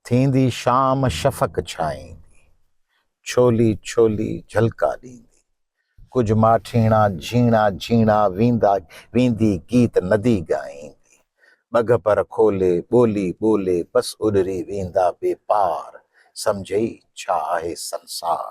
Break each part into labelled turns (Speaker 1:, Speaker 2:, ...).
Speaker 1: ٿيندي شام شفق ڇائيندي، ڇولي ڇولي جهلڪا ڏيندي، ڪجهه ماٺيڻا جهيڻا جهيڻا ويندا ويندي گيت ندي ڳائيندي، ٻگهه پر کولي ٻولي ٻولي بس اڏري ويندا بي پار، سمجهئي ڇا آهي سنسار.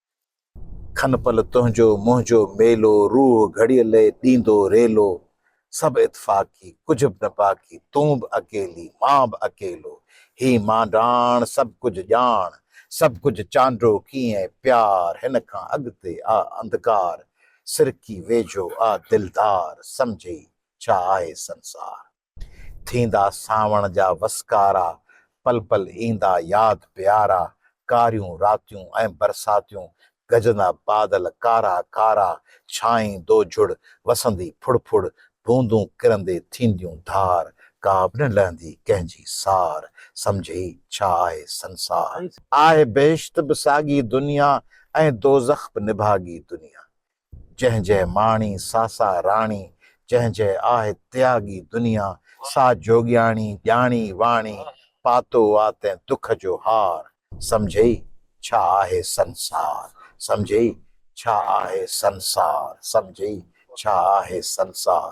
Speaker 1: کن پل تنهنجو منهنجو ميلو روح گهڙيء لئه ڏيندو ريلو سڀ اتفاقي ڪجهه به نه باقي تون به اڪيلي مان به اڪيلو هي مانڊاڻ سڀ ڪجهه ڄاڻ سڀ ڪجهه چانڊو ڪيئن پيار هن کان اڳتي آ انڌڪار سرڪي ويجهو آ دلدار سمجهي ڇا آهي سنسار. ٿيندا سانوڻ جا وسڪارا، پل پل ايندا ياد پيارا، ڪاريون راتيون ۽ برساتيون، گجندا بادل ڪارا ڪارا، ڇانئين دوجھڙ وسندي ڦڙ ڦڙ، بوندون ڪرندي ٿينديون ڌار، ڪا به نه لھندي ڪنھن جي سار، سمجھي ڇا آھي سنسار. آھي بھشت به ساڳي دنيا ۽ دوزخ به نڀاڳي دنيا، جنهن جئه ماڻي ساسا راڻي، جنهن جئه آهه تياڳي دنيا، سا جوڳياڻي ڄاڻي واڻي، پاتو آ تنهن دک جو هار، سمجهئي ڇا آهي سنسار، سمجهئي ڇا آهه سنسار، سمجهئي ڇا آهه سنسار.